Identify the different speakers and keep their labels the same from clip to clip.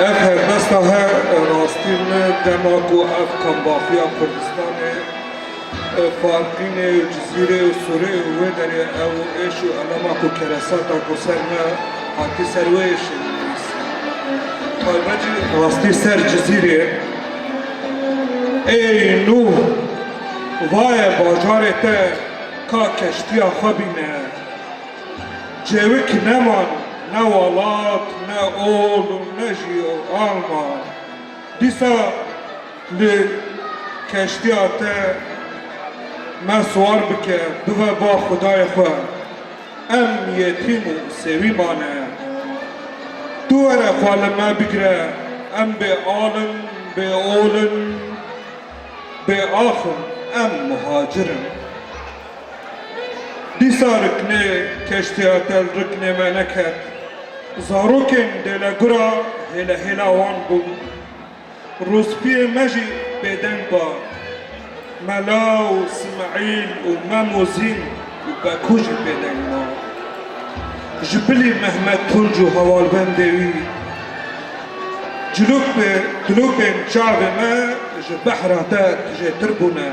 Speaker 1: Ev helbesta her rastî ne dema ku ev kambaxiya Kurdistanê Farqînê û Cizîrê û Sûrê û wê derê ew êş û elama ku keresata ku ser me hatî ser wê êşê min nivîsî. Taybet jî rastî ser Cizîrê Ey nû vaye bajarê te ka keştiya xwe bîne. Cêwik neman ne welat, ne ol û ne jî alma. Dîsa li keştiya te me siwar bike bive ba xwedayê xwe. Em yetîm û sêwî mane. Tu were xwe li me bigire, em bê al in, bê ol in, bê ax in. Em muhacir in. Dîsa riknê keştiya tel riknê me neket. Zarokên Delegura hêle hêla wan bûn. Rûspiyê me jî bêdeng ba. Mela û Simeîl û Mem û Zîn û Beku jî bêdeng ba. Ji bilî Mehmet Tunc û hevalbendê wî cilûkbên cilûkbên çavê me ji behra te tijêtir bûne.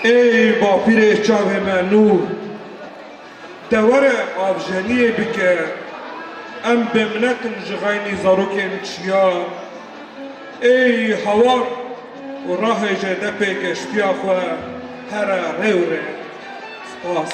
Speaker 1: Ey bapîrê çavê me nûr. De were avjeriyê bike. Em bêminet in ji xeynî zarokên çiyan. Ey hawar û rahêje depê geştiya xwe here rê û rê. Spas.